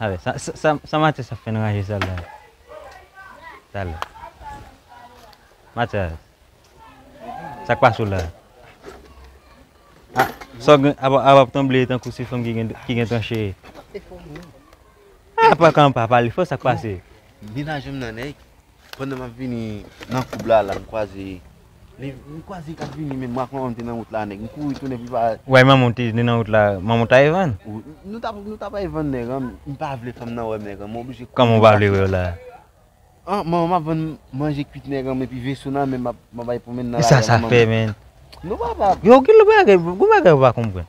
Avè sa sa Matyas ap fè nan raje sal la. Talè. Matyas. Sak pase w la. Ah, sa w gen ap ap tanble tankou se fanm ki gen ki gen tranche. Se fo. Ah, pa kan pa pale fò sak pase. Vin ajanm nan nèg. Pandan map vini nan koub la la m kwaze M kwaze kap vini menm ak manmanm te nan wout la nèg m kouri tounen pou pa. Ou bay manmanw te vini nan wout la manmanw ta ye vann. Nou ta nou ta bay vann nèg an m pa vle fanm nan wèm nèg an m oblije kouri. Kòman ou pa vle wèw la. An manmanm ap vann manje kwit nèg an epi veso nan men map map bay pwomennen nan la rue. Sa sa fè menn. Non papa. Yo gen lòt bagay gen bagay ou pa konprann.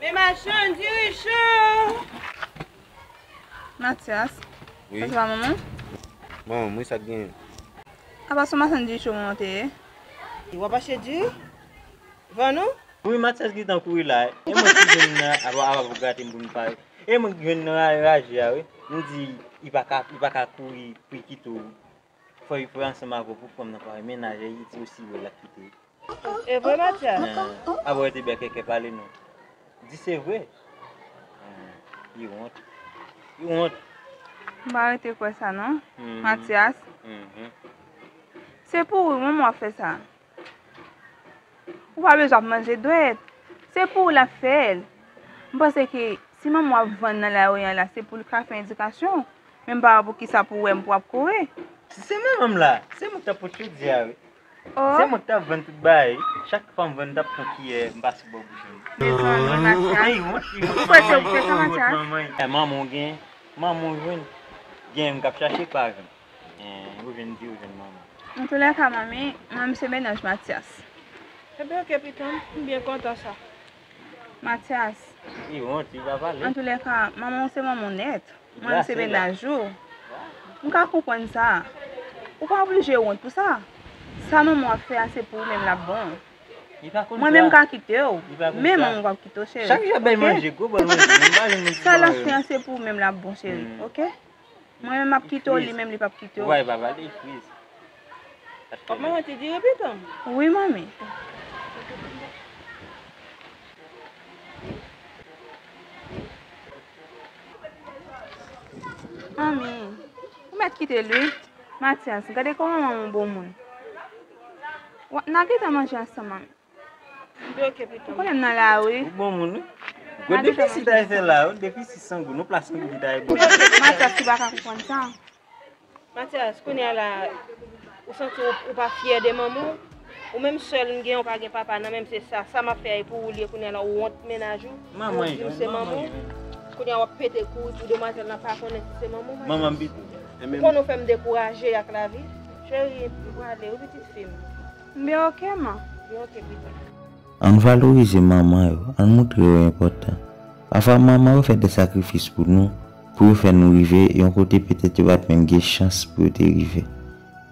Men machann dirijan! Matyas, sa se pa manman w? Manman m wi, sa k genyen? A pa se yon machann diri cho manman w te ye? W ap achte diri? Vann ou? Wi, Matyas gen tan kouri la, e mwen ki jwenn nan ap ap grate m pou m pare. E mwen ki jwenn nan raje a wi, m di li pa ka kouri pou li kite w Fòy pran ansanm avèw pou pranm nan pare mennaj e yidi osi wè lap kite. Evre matyè. Aba wè ti bèkèkè pale non. Di se vre. Li wont. Li wont. M pa rete kwè sa non. Matyas. Se pou ou wi mwen m wap fè sa. Ou pa bezwen ap manje dwèt. Se pou ou l ap fè l. M panse ke si manman w ap vann nan lari an la, se pou l ka fè edikasyon w. Men m pa wè poukisa pou wè m pou w ap kore. Si se manman m la, se mwen k t ap pot chodi a wi. Se mwen k t ap vann tout bagay. Chak fwa m vann, m t ap pran kiyè, m pase bò bouch mwen. Mezanmi Matyas. Manman w gen, manman w jwenn. Gen m k ap chache pa jwenn. And ou vin di ou jwenn manmi. Nan tou lè ka manmi Mwen se Menaj Matyas. Epi ok pitanm, m byen kontan sa. Matyas. Li wont li pa pale. An tou lè ka manman w se manman w nèt. Mwen se menaj ou. M ka konprann sa. Ou pa oblije wont pou sa. Sa manman w ap fè a se pou ou menm l ap bon. Mwen menm m ka kite w. Men manman w pap kite w cheri. Ok. Sa l ap fè a se pou ou menm l ap bon cheri. Ok. Mwen menm map kite w li menm li pap kite w. Wi manmi. Manmi. Ou met kite l wi. Matyas. Gade kòman manman w bon moun. Nan gentan manje ansanm manmi. Ou konnen m nan la wi. Ou bon moun wi. Gwo defisi Taye fè la yo, defisi san gou. Nou plas nou di Taye bon moun. Matyas ki pa ka konprann sa. Matyas, kounye a la ou santi w ou pa fyè de manman w? Ou menm sèl m gen ou pa gen papa nan menm se sa. Sa m ap fè a e pou ou l ye kounye a la ou wont mennaj ou. Manman l jwenn, manman l jwenn. Kounye a w ap pete kouri pou demwazèl la pa konnen si se manman w Matyas. Manman m pito. Ou konnen ou fè m dekouraje ak lavi. Cheri, m prale wi pitit fi m. Mbe ok man, mbe ok pitit. Ann valorize manman yo, ann moutre yo enpòtan. Pafwa manman yo fè de sakrifis pou nou, pou yo fè nou rive yon kote petèt yo pat menm gen chans pou yo te rive.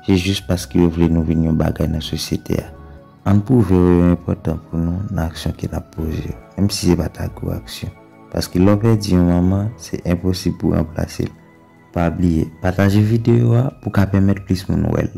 Se jis paske yo vle nou vin yon bagay nan sosyete a. Ann pwouve yo yo enpòtan pou nou nan aksyon ke nap poze yo, menm si se pa ta gwo aksyon. Paske lè w pèdi yon manman, se enposib pou ranplase l. Pa bliye, pataje videyo a pou ka pèmèt plis moun wè l.